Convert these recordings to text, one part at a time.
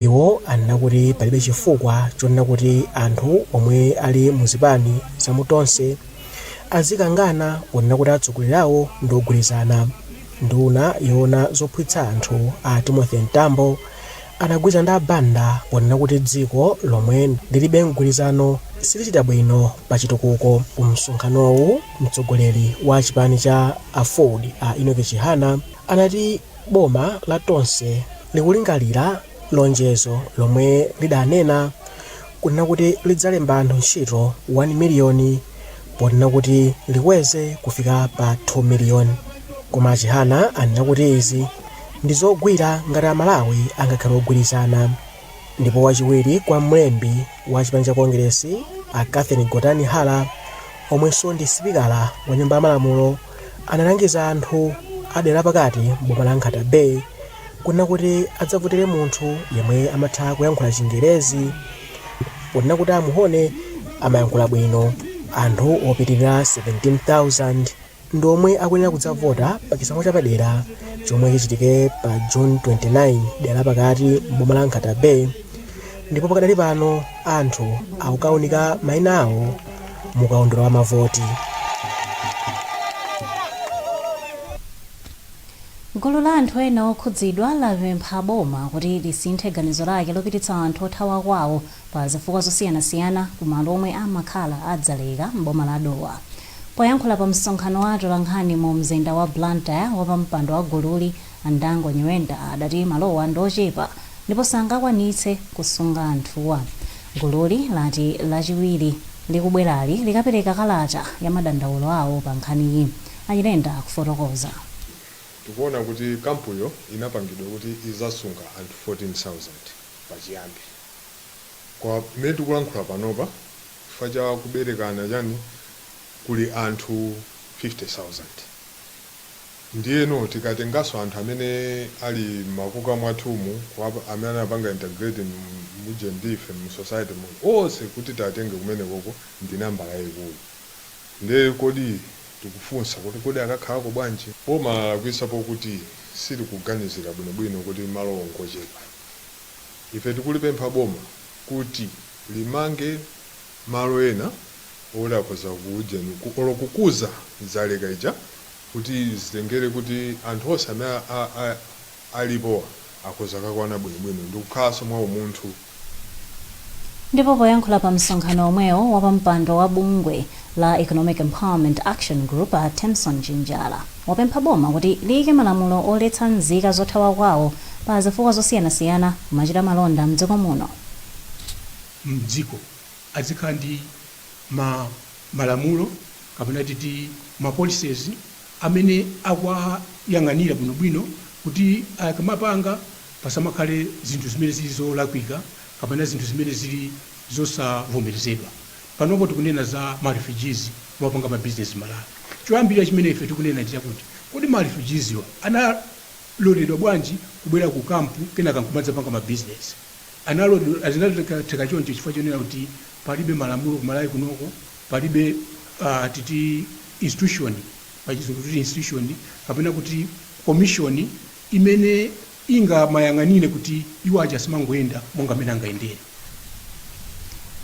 Iwo anena kuti palibe chifukwa chonena kuti anthu omwe ali mu zipani za mu Tonse azikangana ponena kuti atsogoleri awo ndi ogwirizana. Nduna yoona zophwitsa anthu a Timothy Mtambo anagwirizana ndi a Banda ponena kuti dziko lomwe lilibe mgwirizano silichita bwino pa chitukuko. Ku msonkhanowu mtsogoleri wa chipani cha Aford a Enoch Chihana anati, Boma la Tonse likulingalira lonjezo lomwe lidanena kunena kuti lidzalemba anthu ntchito 1 miliyoni ponena kuti likweze kufika pa 2 miliyoni koma a Chihana anena kuti izi ndizogwira ngati a Malawi angakhale ogwirizana. Ndipo wachiwiri kwa mlembi wa chipani cha Kongeresi a Catherine Gotani Hara omwenso ndi sipikala wa nyumba ya malamulo analangiza anthu a dera la pakati m'boma la Nkhata Bay kunena kuti adzavotele munthu yemwe amatha kuyankhula chingerezi ponena kuti a Muhone amayankhula bwino anthu opitilira 17,000 ndi omwe akuyenera kudzavota pa chisankho chapadera chomwe chichitike pa June 29 dera lapakati m'boma la Nkhata Bay ndipo pakadali pano anthu akukaunika maina awo mu kaundula wa mavoti. gulu la anthu ena okhudzidwa lapempha boma kuti lisinthe ganizo lake lopititsa anthu othawa kwawo pa zifukwa zosiyanasiyana ku malo omwe amakhala a Dzaleka m'boma la Dowa Poyankhula pa msonkhano wa atolankhani mu mzinda wa Blantyre, wapampando wa gululi, a Ndango Nyirenda, adati malowa ndi ochepa ndipo sangakwanitse kusunga anthuwa. Gululi lati Lachiwiri likubwerali likapereka kalata ya madandaulo awo pa nkhaniyi. A Nyirenda akufotokoza. Tikuona kuti kampuyo inapangidwa kuti izasunga anthu 14,000 pachiyambi. Koma mmene tikulankhula panopa. chifukwa cha kuberekana chani kuli anthu 50,000. Ndiyeno tikatenganso anthu amene ali m'makuka mwathumu kuwap amene anapanga integrate mu uje ndi ife mu society mu onse kuti tiwatenge kumenekoko ndi nambala yaikulu. Ndiye kodi tikufunsa kuti kodi akakhalako bwanji? Boma lalakwitsa pokuti silikuganizira bwinobwino kuti malowo ngochepa. Ife tikulipempha boma kuti. limange malo ena oti akhoza ku ujeni ku olo kukuza Dzaleka ija kuti zitengere kuti anthu onse amene a a a alipowa akhoza kakwana bwinobwino ndikukhalanso mwa umunthu. Ndipo poyankhula pa msonkhano omwewo, wapampando wa bungwe la Economic Empowerment Action Group a Themson Chinjala wapempha boma kuti liyike malamulo oletsa nzika zothawa kwawo pa zifukwa zosiyanasiyana kumachita malonda mdziko muno. mdziko azikhala ndi ma malamulo kapena titi ma policies amene akuyang'anira bwino bwino kuti akamapanga pasamakhale zinthu zimene zili zolakwika kapena zinthu zimene zili zosavomerezedwa. Panopo tikunena za ma refugees kumapanga ma business mMalawi. Choyambirira chimene ife tikunena ndi chakuti kodi ma refugees wa analoledwa bwanji kubwera ku camp kenaka nkumadzapanga ma business? analoledwa zinatheka choncho chifukwa chonena kuti palibe malamulo ku Malawi kuno, palibe uh titi institution pa chizungu tikuti institution kapena kuti commission imene ingamayang'anire kuti iwo aja asamangoyenda monga mmene angayendere.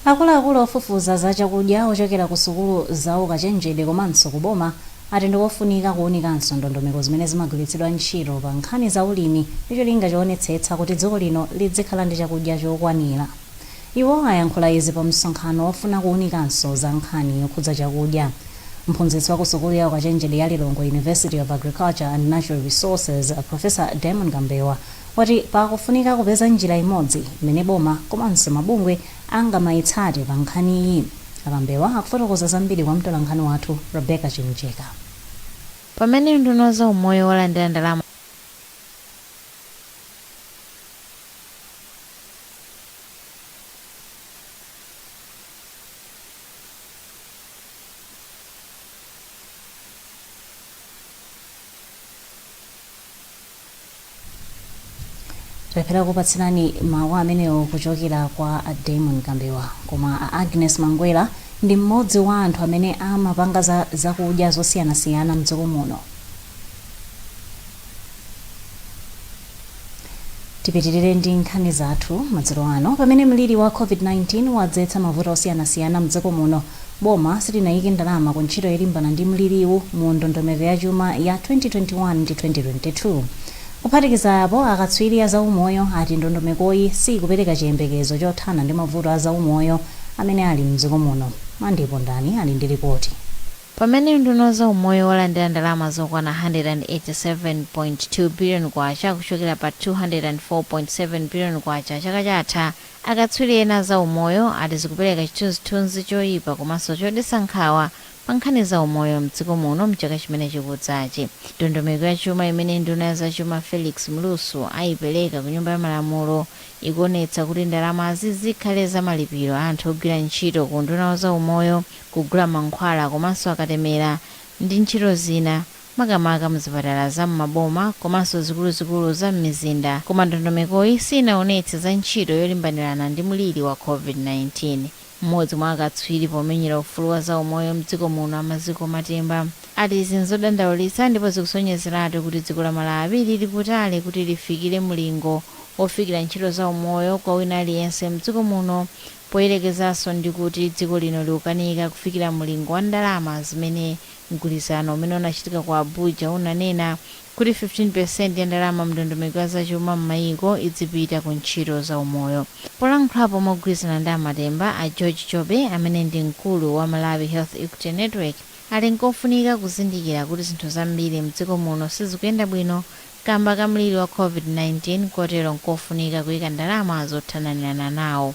Akuluakulu ofufuza za chakudya ochokera ku sukulu za ukachenjede komanso ku boma ati ndikofunika kuunikanso ndondomeko zimene zimagwiritsidwa ntchito pa nkhani za ulimi ndi cholinga choonetsetsa kuti dziko lino lidzikhala ndi chakudya chokwanira. Iwo ayankhula izi pa msonkhano wofuna kuunikanso za nkhani yokhudza chakudya. Mphunzitsi wa ku sukulu ya ukachenjede ya Lilongwe University of Agriculture and Natural Resources Professor Daimon Kambewa wati pakufunika kupeza njira imodzi imene boma komanso mabungwe angamaitsate pa nkhaniyi? A Kambewa akufotokoza zambiri kwa mtolankhani wathu Rebecca Chimjeka. Pamene unduna wa za umoyo walandira ndalama za. Talephera kukupatsirani mawu amenewo kuchokera kwa a Daimon Kambewa, koma a Agness Mangwera ndi mmodzi wa anthu amene amapanga zakudya zosiyanasiyana mdziko muno. Tipitirire ndi nkhani zathu madzulo ano. Pamene mliri wa COVID-19 wadzetsa mavuto osiyanasiyana mdziko muno, Boma silinayike ndalama ku ntchito yolimbana ndi mliriwu mu ndondomeko ya chuma ya 2021 ndi 2022. Kuphatikiza apo, akatswiri a zaumoyo ati ndondomekoyi siyikupereka chiyembekezo chothana ndi mavuto a zaumoyo amene ali mdziko muno. Mandy Pondani ali ndi lipoti. Pamene unduna wa zaumoyo walandira ndalama zokwana K187.2 billion kuchokera pa K204.7 billion chaka chatha, Akatswiri ena a zaumoyo ati zikupereka chithunzithunzi choipa komanso chodetsa nkhawa pa nkhani za umoyo m'dziko muno m'chaka chimene chikudzachi. Ndondomeko ya chuma imene nduna ya zachuma Felix Mlusu ayipereka ku nyumba ya malamulo ikuonetsa kuti ndalamazi zikhale za malipiro a anthu ogwira ntchito ku unduna wa zaumoyo, kugula mankhwala komanso akatemera ndi ntchito zina. makamaka m'zipatala za m'maboma komanso zikuluzikulu za m'mizinda, koma ndondomekoyi siinaonetse za ntchito yolimbanirana ndi mliri wa COVID-19. Mmodzi mwa akatswiri pomenyera ufulu wa zaumoyo m'dziko muno a Maziko Matemba ati izi n'zodandaulitsa ndipo zikusonyezeratu kuti dziko la Malawi lili kutali kuti lifikire mlingo wofikira ntchito zaumoyo kwa wina aliyense m'dziko muno poyerekezanso ndi kuti dziko lino likukanika kufikira mlingo wa ndalama zimene Mgwirizano umene unachitika ku Abuja unanena kuti 15% ya ndalama m'ndondomeko ya zachuma m'mayiko idzipita ku ntchito za umoyo. Polankhulapo mogwirizana ndi a Matemba, a George Jobe, amene ndi mkulu wa Malawi Health Equity Network, ati nkofunika kuzindikira kuti zinthu zambiri m'dziko muno sizikuyenda bwino kamba ka mliri wa Covid-19 kotero nkofunika kuika ndalama zothananirana nawo.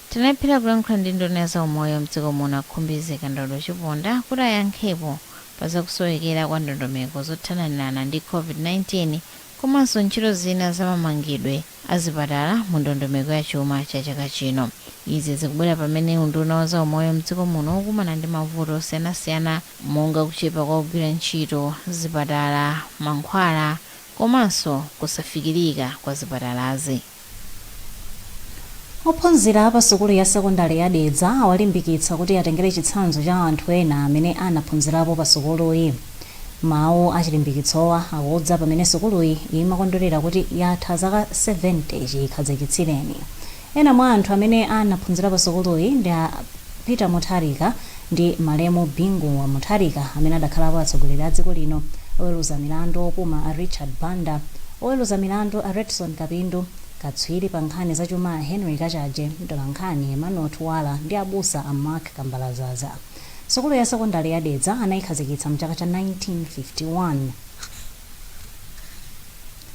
Tinalephera kulankhula ndi nduna ya zaumoyo m'dziko muno a Khumbize Kandodo Chiponda kuti ayankhepo pa zakusowekera kwa ndondomeko zothananirana ndi Covid-19 komanso ntchito zina za mamangidwe a zipatala mu ndondomeko ya chuma cha chaka chino. Izi zikubwera pamene unduna wa zaumoyo m'dziko muno ukukumana ndi mavuto osiyanasiyana monga kuchepa kwa ogwira ntchito m'zipatala, mankhwala komanso kusafikirika kwa zipatalazi. Ophunzira a pa sukulu ya sekondale ya Dedza awalimbikitsa kuti atengere chitsanzo cha anthu ena amene anaphunzirapo pa sukuluyi. Mawu achilimbikitsowa akudza pamene sukuluyi imakondwerera kuti yatha zaka 70 chikhazikitsireni. Ena mwa anthu amene anaphunzira pa sukuluyi ndi a. Peter Mutharika ndi malemu Bingu Wa Mutharika amene adakhalapo atsogoleri a dziko lino, oweruza milandu opuma a Richard Banda, oweruza milandu a Redson Kapindu, katswiri pa nkhani za chuma a Henry Kachaje, mtolankhani Emmanuel Tuwala ndi abusa a Mark Kambalazaza. Sukulu ya sekondale ya Dedza anaikhazikitsa m'chaka cha 1951.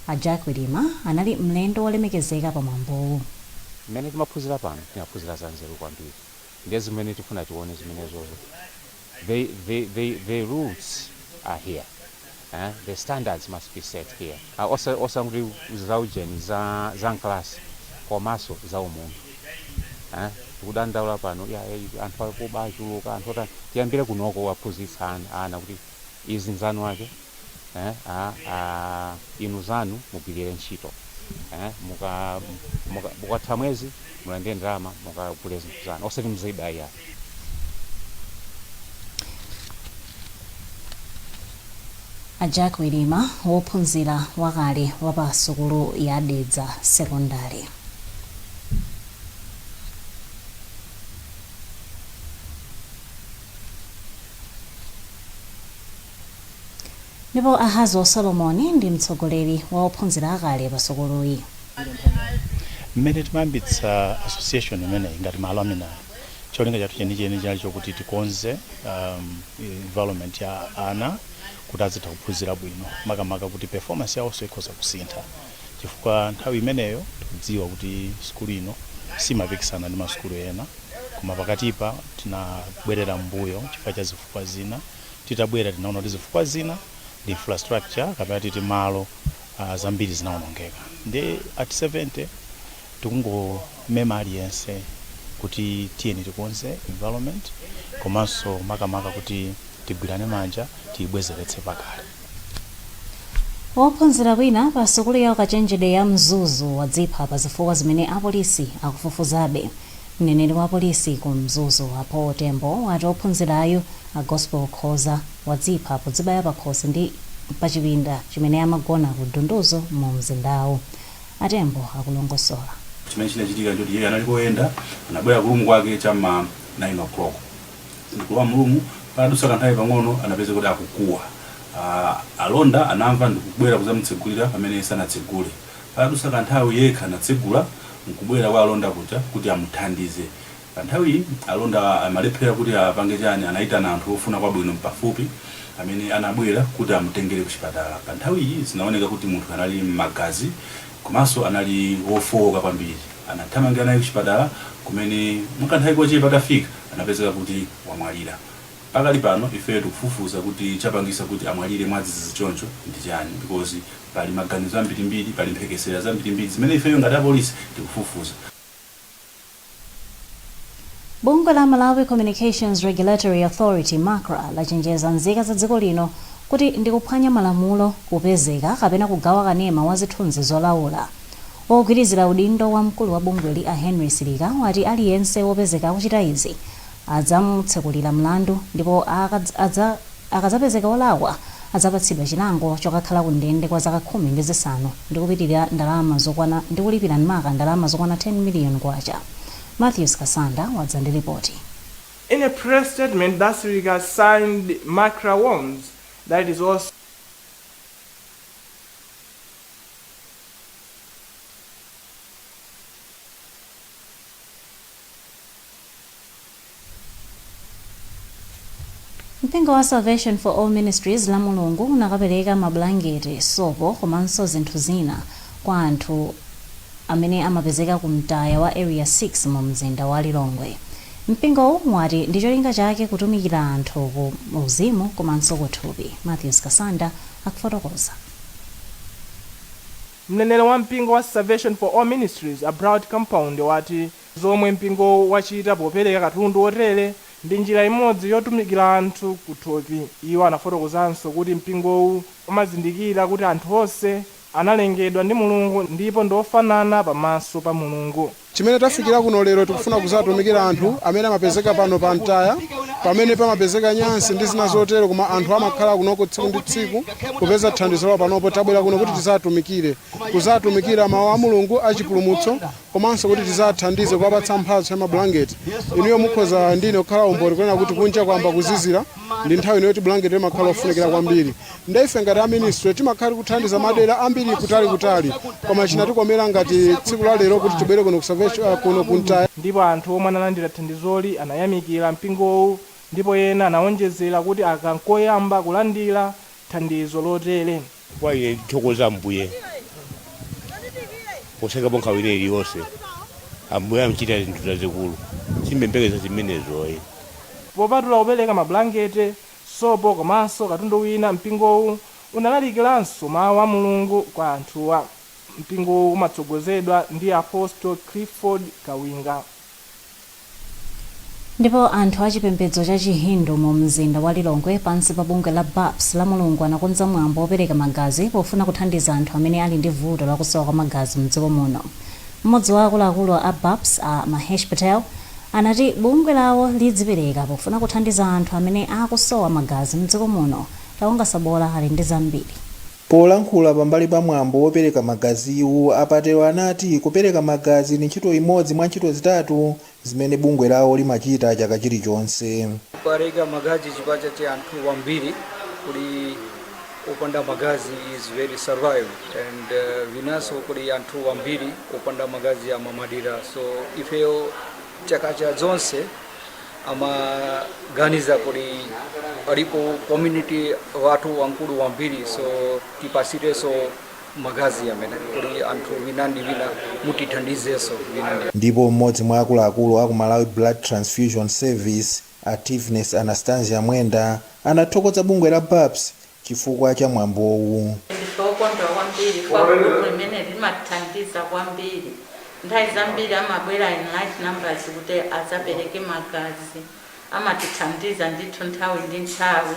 A Jack Wirima anali mlendo wolemekezeka pa mwambowu. Mmene timaphunzira pano, timaphunzira za nzeru kwambiri. ndiye zimene tifuna tione zimenezozo the the the the roots are here eh? the standards must be set here uh, osa, osangoti zaujeni za, za mklasi komanso za umunthu eh? tikudandaula pano ya, ya, anthu akuba achuluka anthu otani tiyambire kunoko kuwaphunzitsa ana, ana kuti Izi nzanu wake eh a a inu zanu mugwilire ntchito eh muka muka ukatha mwezi mulandire ndalama mukagule zinthu zanu osati muziba iyayi. A Jack Chirima, wophunzira wakale wa pa sukulu ya Dedza Sekondale. Ndipo Ahazi Solomoni ndi mtsogoleri wa ophunzira akale pa sukuluyi. Mmene timayambitsa association imeneyi ngati ma alumni, cholinga chathu chenicheni chinali chokuti tikonze um, environment ya ana kuti azitha kuphunzira bwino, makamaka kuti performance yawonso ikhoza kusintha. chifukwa nthawi imeneyo tikudziwa kuti sukulu ino imapikisana ndi masukulu ena koma pakatipa tinabwerera m'mbuyo chifukwa cha zifukwa zina titabwera tinaona kuti zifukwa zina ndi infrastructure kapena titi malo uh, zambiri zinaonongeka ndi at 70 tikungomema aliyense kuti tiyeni tikonze environment komanso makamaka kuti tigwirane manja tiyibwezeretse pakale Wophunzira wina pa sukulu ya ukachenjede ya Mzuzu wadzipha pa zifukwa zimene apolisi akufufuzabe. Mneneri wa polisi ku Mzuzu, a Paul Tembo, wati ophunzirayu, a Gospel Khoza, wadzipha podzibaya pakhosi mu chipinda chimene amagona ku Dunduzu mu mzindawu. A Tembo akulongosola. Chimene chinachitika nchoti iyeyo anali koyenda, anabwera ku room kwake cha m'ma 9:00. ndikulowa mulumu padadusa kanthawi pang'ono anapezeka kuti akukuwa uh, alonda anamva ndikubwera kuzamutsegulira pamene sanatsegule padadusa kanthawi yekha anatsegula nkubwera kwa alonda kuja kuti amuthandize panthawi alonda amalephera kuti apange chani anayitana anthu ofuna kwabwino pafupi amene anabwera kuti amutengere kuchipatala panthawi iyi zinaoneka kuti munthu anali m'magazi Komanso anali wofooka kwambiri. Anathamangira naye kuchipatala kumene mu kanthawi kochepa atafika anapezeka kuti wamwalira. Pakali pano ifeyo tikufufuza kuti chapangisa kuti amwalire mwadzizizi choncho ndi chani because pali maganizo ambirimbiri, pali mphekesera zambirimbiri zimene ifeyo ngati apolisi tikufufuza. Bungwe la Malawi Communications Regulatory Authority, macra, lachenjeza nzika za dziko lino kuti ndi kuphwanya malamulo kupezeka kapena kugawa kanema wa zithunzi zolaula. Wogwirizira udindo wa mkulu wa bungweli a Henry Silika wati aliyense wopezeka akuchita izi adzamutsekulira mlandu ndipo akadz adza akadzapezeka olakwa adzapatsidwa chilango chokakhala ku ndende kwa zaka khumi ndi zisanu ndi kupitilira ndalama zokwana ndi kulipira m'maka ndalama zokwana 10 million kwacha. Mathews Kasanda wadza ndi lipoti. In a press statement that Suleman signed Macra warns that it is also. Mpingo wa Salvation for All Ministries lamulungu unakapereka mabulangete, sopo komanso zinthu zina kwa anthu amene amapezeka ku mtaya wa Area 6 mu mzinda wa Lilongwe. Mpingowu wati ndi cholinga chake kutumikira anthu ku uzimu komanso kuthupi. Mathews Kasanda akufotokoza. Mneneri wa mpingo wa Salvation for All Ministries a Blaut Kampaundi wati zomwe mpingowu wachita popereka katundu otere ndi njira imodzi yotumikira anthu kuthupi. Iwo anafotokozanso kuti mpingowu umazindikira kuti anthu onse analengedwa ndi Mulungu ndipo ndi ofanana pa maso pa Mulungu. Chimene tafikira kuno lero tikufuna kuzatumikira anthu amene amapezeka pano pa mtaya pamene pamapezeka nyansi ndi zina zotero koma anthu amakhala kunoko tsiku ndi tsiku kupeza thandizo lawo panopo tabwera kuno kuti tizatumikire kuzatumikira mawu a Mulungu a chipulumutso komanso kuti tizathandize kuwapatsa mphatso ya mabulangeti inuyo mukhoza ndine kukhala umboni kunena kuti kunja kwamba kuzizira ndi nthawi ino yoti bulangeti limakhala ofunikira kwambiri Nde ife ngati a ministry timakhala kuthandiza madela ambiri kutali kutali koma chinatikomela ngati tsiku la lero kuti tibwere kuno ku Salvation uh, kuno ku mtaya Ndipo anthu omwe analandira thandizoli anayamikira mpingowu ndipo ena anawonjezera kuti aka n'koyamba kulandira thandizo lotere. Kwa ine ndithokoza Ambuye posayikapo nkhawa ina iliyonse. Ambuye amachita zinthu zazikulu. Sindimayembekeza zimenezo ayi. Popatula kupereka mabulangete, sopo komanso katundu wina mpingowu unalalikilanso mawu a Mulungu kwa anthuwa. Mpingowu umatsogozedwa ndi Apostle Clifford Kawinga. Ndipo anthu a chipembedzo cha chi Hindu mu mzinda wa Lilongwe pansi pa bungwe la baps lamulungu anakonza mwambo opereka magazi pofuna kuthandiza anthu amene ali ndi vuto lakusowa kwa magazi mdziko muno. Mmodzi wa akuluakulu a baps a Mahesh Patel anati bungwe lawo lidzipereka pofuna kuthandiza anthu amene akusowa magazi mdziko muno. Taonga Sabola ali ndi zambiri. Polankhula pambali pa mwambo wopereka magaziwu, a Patel anati kupereka magazi ndi ntchito imodzi mwa ntchito zitatu zimene bungwe lawo limachita chaka chilichonse. Kupereka magazi chifukwa cha anthu wambiri kuli. opanda magazi is very survive and uh, vinanso kuti anthu ambiri opanda magazi amamwalira so ifeyo chaka cha zonse amaganiza kuti alipo community wathu wamkulu kwambiri so tipasirenso magazi amene kuli anthu vina ndi vina mutithandizenso vina ndi ndipo mmodzi mwa akuluakulu aku malawi blood transfusion service A Tiveness Anastasia Mwenda anathokoza bungwe la baps chifukwa cha mwambowu. Ndife okondwa kwambiri kwa gulupu limeneli limathandiza kwambiri. Nthawi zambiri amabwera in large numbers kuti adzapereke magazi. Amatithandiza ndithu nthawi ndi nthawi.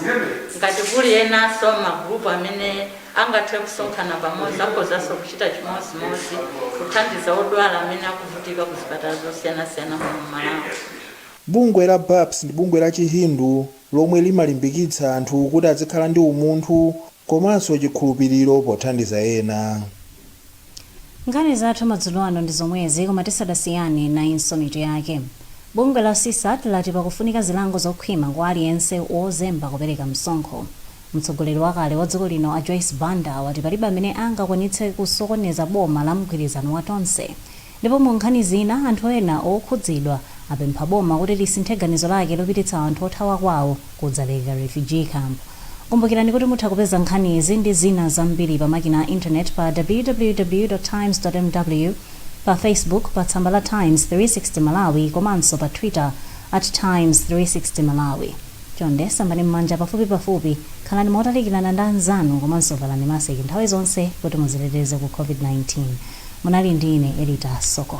Ngati kuli enanso magulupu amene angathe kusonkhana pamodzi akhozanso kuchita chimodzimodzi kuthandiza odwala amene akuvutika ku zipatala zosiyanasiyana muno m'Malawi. Bungwe la Baps ndi bungwe la chi Hindu lomwe limalimbikitsa anthu kuti azikhala ndi umunthu komanso chikhulupiliro pothandiza ena. Nkhani zathu madzulo ano ndi zomwezi koma tisadasiyane nayinso mitu yake. Bungwe la CSAT lati pakufunika zilango zokhwima kwa aliyense wozemba kupereka msonkho. Mtsogoleri wakale wa dziko lino a Joyce Banda wati palibe amene angakwanitse kusokoneza boma la mgwirizano wa Tonse. Ndipo mu nkhani zina, anthu ena okhudzidwa apempha boma kuti lisinthe ganizo lake lopititsa anthu othawa kwawo ku Dzaleka Refugee Camp. Kumbukirani kuti mutha kupeza nkhanizi ndi zina zambiri pa makina a internet pa www. Times. Mw, pa Facebook pa tsamba la Times 360 Malawi komanso pa Twitter at Times 360 Malawi. Chonde sambani m'manja pafupipafupi, khalani motalikirana ndi anzanu komanso valani masiki nthawi zonse kuti muziteteze ku COVID-19. Munali ndi ine Elita Soko.